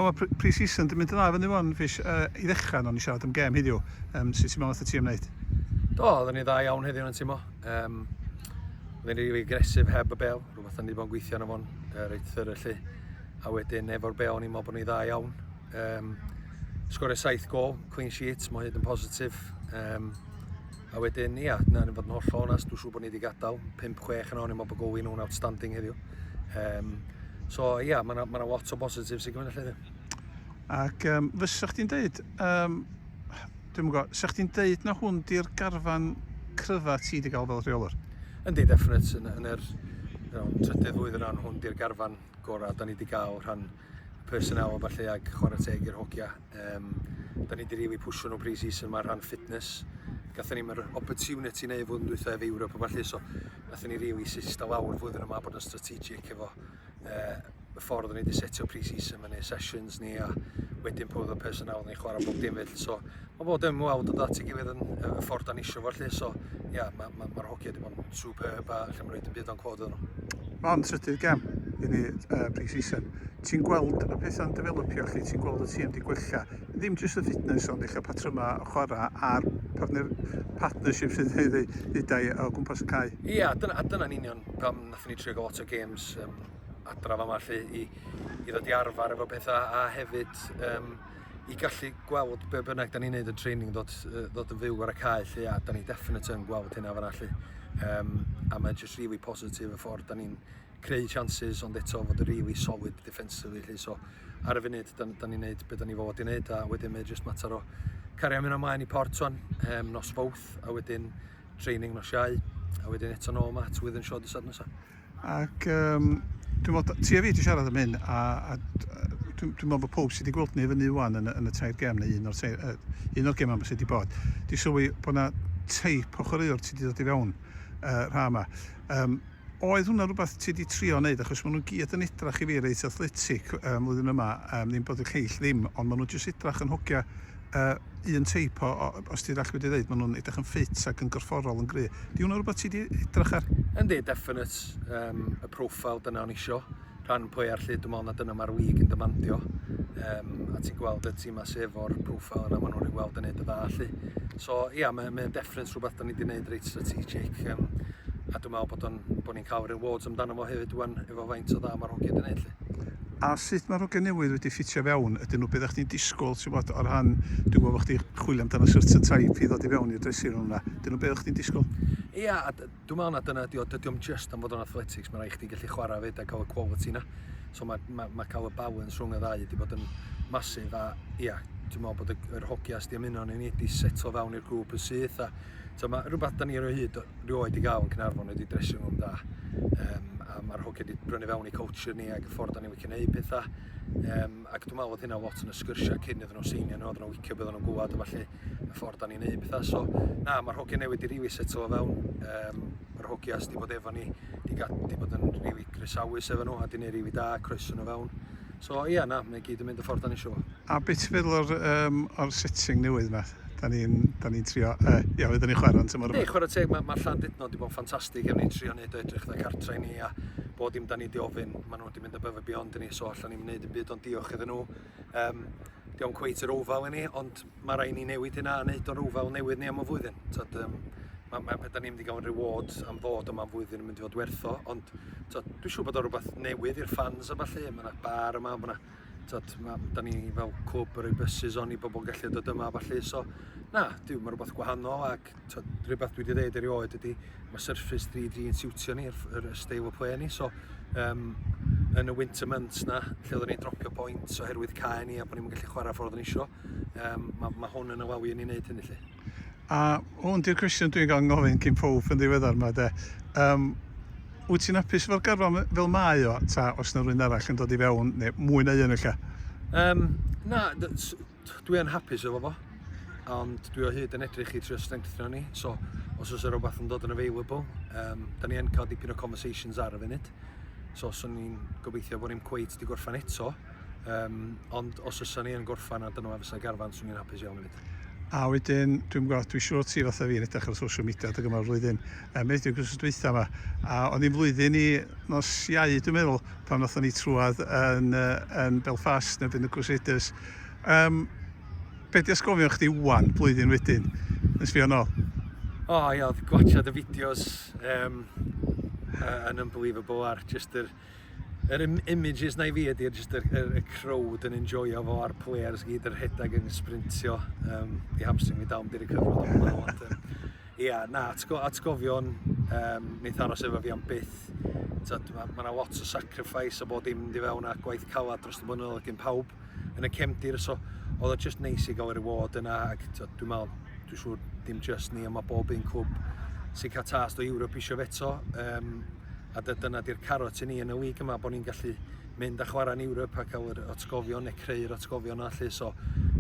O ma pre- pre-season di mynd yn dda fyny wan Fish. Yy i ddechra nown ni siarad am gêm heddiw. Yym sut ti'n meddwl nath y tîm neud? Do, oedden ni dda iawn heddiw yn y timo. Um, oedden ni rili agresif heb y bel, rhywbeth oedden ni wedi bod yn gweithio arno fo'n uh, reit thyr lle. A wedyn efo'r bel o'n i'n meddwl bod ni dda iawn. Um, sgorio saith gol, clean sheet, mae hyd yn positif. Um, a wedyn, ia, na, ni'n fod yn holl o'n as, dwi'n siŵr bod ni wedi gadael 5-6 yn o'n i'n meddwl bod Gowyn nhw'n outstanding heddiw. Um, so ia, yeah, mae yna ma lot o bositif sy'n gwneud allan Ac um, fysa chdi'n deud, um, dwi'n mwyn gwybod, fysa chdi'n deud na hwn di'r garfan cryfa ti wedi cael fel rheolwr? Yndi, definite, yn, yn yr you know, trydydd flwydd yn rhan hwn di'r garfan gorau da ni wedi cael rhan personnel o falle ag chwarae teg i'r hogia Um, da ni wedi rili pwysio nhw pre-season yma rhan fitness. Gathen ni'n yr opportunity neu fod yn dwytha ef Ewrop o falle, so gathen ni rili sista lawr flwyddyn yma bod yn strategic efo uh, y ffordd o'n i wedi setio pre-season fyny, sessions ni a wedyn pob o'r person awr ni'n chwarae bob dim felly. So mae bod yn mwawd o ddat i gilydd yn y ffordd da ni eisiau fo felly. So ia, yeah, mae'r ma, ma, ma hogia wedi bod yn be, ba, lle mae'n rhaid yn byd o'n clod iddyn nhw. Mae o'n trydydd gem i ni uh, pre-season. Ti'n gweld y pethau'n developio chi, ti'n gweld y tîm wedi gwella. Ddim jyst y fitness ond eich patrymau o chwarae a'r partner, partnership sydd wedi ddidau o gwmpas y cae. Ie, yeah, dyna, a dyna'n union pam nath ni trio lot o games um, adraf yma lle i, i ddod i arfer efo pethau a hefyd um, i gallu gweld be bynnag da ni'n neud yn training ddod, ddod yn fyw ar y cae lle a da ni definite yn gweld hynna fan allu. Um, a mae'n just really positif y ffordd da ni'n creu chances ond eto fod yn really solid defensively lle so ar y funud da, da ni'n neud beth da ni fod i neud a wedyn mae'n just mater o cario mynd ymlaen i port o'n um, nos fawth a wedyn training nos iau a wedyn eto nôl mat within short y sad nesaf. Ac yym dwi'n meddwl t- ti a fi 'di siarad am hyn a a d- yy dwi dwi'n meddwl bod pawb sy 'di gweld ni fyny ŵan yn y yn y tair gem neu un o'r tair yy un o'r gemau 'ma sy 'di bod 'di sylwi bod 'na teip o chwaraewr ti 'di dod i fewn yy rha 'ma. Yym oedd hwnna rwbath ti 'di trio neud achos ma' nhw gyd yn edrach i fi reit athletic yy mlwyddyn yma yym ddim bod y lleill ddim ond ma' nhw jyst edrach yn hogia yy un teip o o os ti'n dallt be' dwi ddeud ma' nhw'n edrych yn ffit ac yn gorfforol yn gry'. 'Di hwnna rwbath ti 'di edrach ar? Yndi definate yym y profile dyna o'n isio rhan pwy ar lle dwi me'wl na dyna ma'r wig yn dymandio yym a ti'n gweld y tima sy efo'r profile yna ma' nhw'n rhy weld yn neud y dda 'lly. So ia ma' mae o'n definate rhywbeth 'dan ni 'di neud reit strategic yym a dwi me'wl bod o'n bo' ni'n ca'l rewards amdano fo hefyd ŵan efo faint o dda ma'r hogia 'di neud 'lly. A sut mae'r hogiau newydd wedi ffitio i fewn? Ydyn nhw be oeddech chdi'n disgwyl, ti'n gwybod, o ran... Dwi'n gwybod bod chdi'n chwilio amdano certain type i ddod i fewn i'r dressing room 'na. Ydyn nhw be oeddech chdi'n disgwyl? Ia, a dwi'n meddwl na dyna ydy o. Dydy o'm jyst am fod o'n athletics, mae rhaid chdi gallu chwarae 'fyd a cael y quality 'na. So mae ma' ma' cael y balance rhwng y ddau wedi bod yn massive a ia, dwi'n meddwl bod y yr hogiau sy' 'di ymuno â ni wedi setlo fewn i'r grŵp yn syth a So mae rhywbeth da ni ar o hyd rioed i gael yn Cynarfon wedi dressing room da. Um, a mae'r hogiau wedi brynu fewn i culture ni ac y ffordd da ni'n wicio neud pethau. Um, ac dwi'n meddwl oedd hynna lot yn y sgyrsiau cyn iddyn nhw seinio nhw, oedden nhw'n wicio beth nhw'n gwybod a falle y ffordd da ni'n neud pethau. So, na, mae'r hogiau newid i rili setlo o fewn. Um, mae'r hogiau sydd wedi bod efo ni, wedi bod yn rili grisawus efo nhw a di neud rili da, croeso nhw fewn. So, ia, na, mae gyd yn mynd y ffordd da ni eisiau. A be ti'n feddwl o'r yym o'r setting newydd 'ma? 'Dan ni'n 'dan ni'n trio yy ia oedden ni'n chwarae yn tymor yma. Yndi chwarae teg ma' ma' Llandudno wedi bod yn ffantastig a ni'n trio neud o edrych fatha cartra i ni a bob dim 'dan ni 'di ofyn ma' nhw wedi mynd above and beyond i ni so allan ni'm yn neud dim byd ond diolch iddyn nhw. Yym 'di o'm cweit yr ofael i ni ond ma' raid ni newid hynna a neud o'n ofael newydd ni am y flwyddyn. T'od yym ma' ma' be' 'dan ni'n mynd i ga'l yn reward am ddod yma am flwyddyn yn mynd i fod werth o ond t'od dwi siŵr bod o'n rwbath newydd i'r ffans a ballu ma' 'na bar yma ma' 'na t'od ma' m- 'dan ni fel cwb yn roi byses on i bobol gallu dod yma a ballu so na dyw ma' rwbath gwahanol ac t'od rhywbeth dwi 'di ddeud erioed ydi ma' Surface 3D yn siwtio ni yr yr y steil o play ni so yym yn y winter months 'na lle oedden ni'n dropio points oherwydd cae ni a bo' ni'm yn gallu chwara' ffordd o'n ni isio yym ma' ma' hwn yn afalu i ni neud hynny 'lly. A hwn di'r cwestiwn dwi'n cael ngofyn cyn pawb yn ddiweddar ma de. Yym, wyt ti'n apus efo'r garfan fel mae o, ta os na rwy'n arall yn dod i fewn, neu mwy na un ella? Yym, na, dwi yn hapus efo fo, ond dwi o hyd yn edrych i trio strengthno ni, so os oes rhywbeth yn dod yn available, um, da ni yn cael dipyn o conversations ar y funud, so swn i'n gobeithio bod ni'n cweit di gorffan eto, Um, ond os ysa ni yn gorffan a dyna fysa garfan, swn i'n hapus iawn hefyd. A wedyn, dwi'n gwybod, dwi'n siŵr ti fatha fi'n edrych ar social media dy gyma'r flwyddyn, um, edrych i'r gwrs dweitha yma, a o'n i'n flwyddyn i nos iau, dwi'n meddwl, pan wnaethon ni trwad yn, yn Belfast neu byn y Crusaders. Um, be di asgofio chdi wan, blwyddyn wedyn, yn sbio nôl? O, oh, ia, gwachad y fideos um, uh, yn unbelievable ar just yr Yr im images na i fi ydy'r just yr, yr, y crowd yn enjoyo fo a'r players gyd yn rhedeg yn sprintio. Um, di hamstring mi dal, di recyfro do hwnna. Ond, um, yeah, na, atgo, atgofion, um, neith aros efo fi am byth. Mae ma yna lot o sacrifice a bod dim di fewn a gwaith calad dros y blynyddoedd gen pawb yn y cefndir. So, oedd o just neis i gael y reward yna. Ac dwi'n meddwl, dwi'n siŵr dim just ni, ond mae bob un clwb sy'n cael tas o Ewrop eisiau feto. Um, a dy- dyna di'r carot i ni yn y wig yma, bod ni'n gallu mynd a chwarae yn Europe a cael yr atgofion neu creu'r atgofion yna lle, so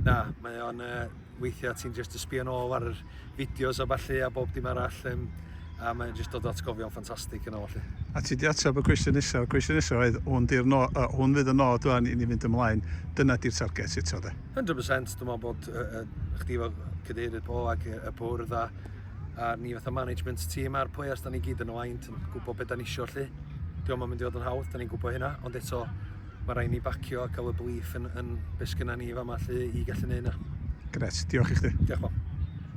na, mae o'n uh, weithiau ti'n just y sbio nôl ar yr fideos a falle a bob dim arall, um, a mae'n just dod atgofion ffantastig yn ôl lle. A ti di ateb y cwestiwn nesaf, y cwestiwn nesaf oedd, hwn, di'r no, uh, hwn fydd y nod o'n i ni fynd ymlaen, dyna di'r target eto de. 100%, dwi'n meddwl bod uh, uh, chdi fel cadeirydd po ac y bwrdd a a ni fatha management tîm a'r players da ni gyd yn y wain yn gwybod beth da ni eisiau lle. Diolch yn mynd i fod yn hawdd, da ni'n gwybod hynna, ond eto mae rhaid ni bacio a cael y belief yn, yn beth sgynna ni fama lle i gallu neud hynna. Gret, diolch i chdi. Diolch, Bob.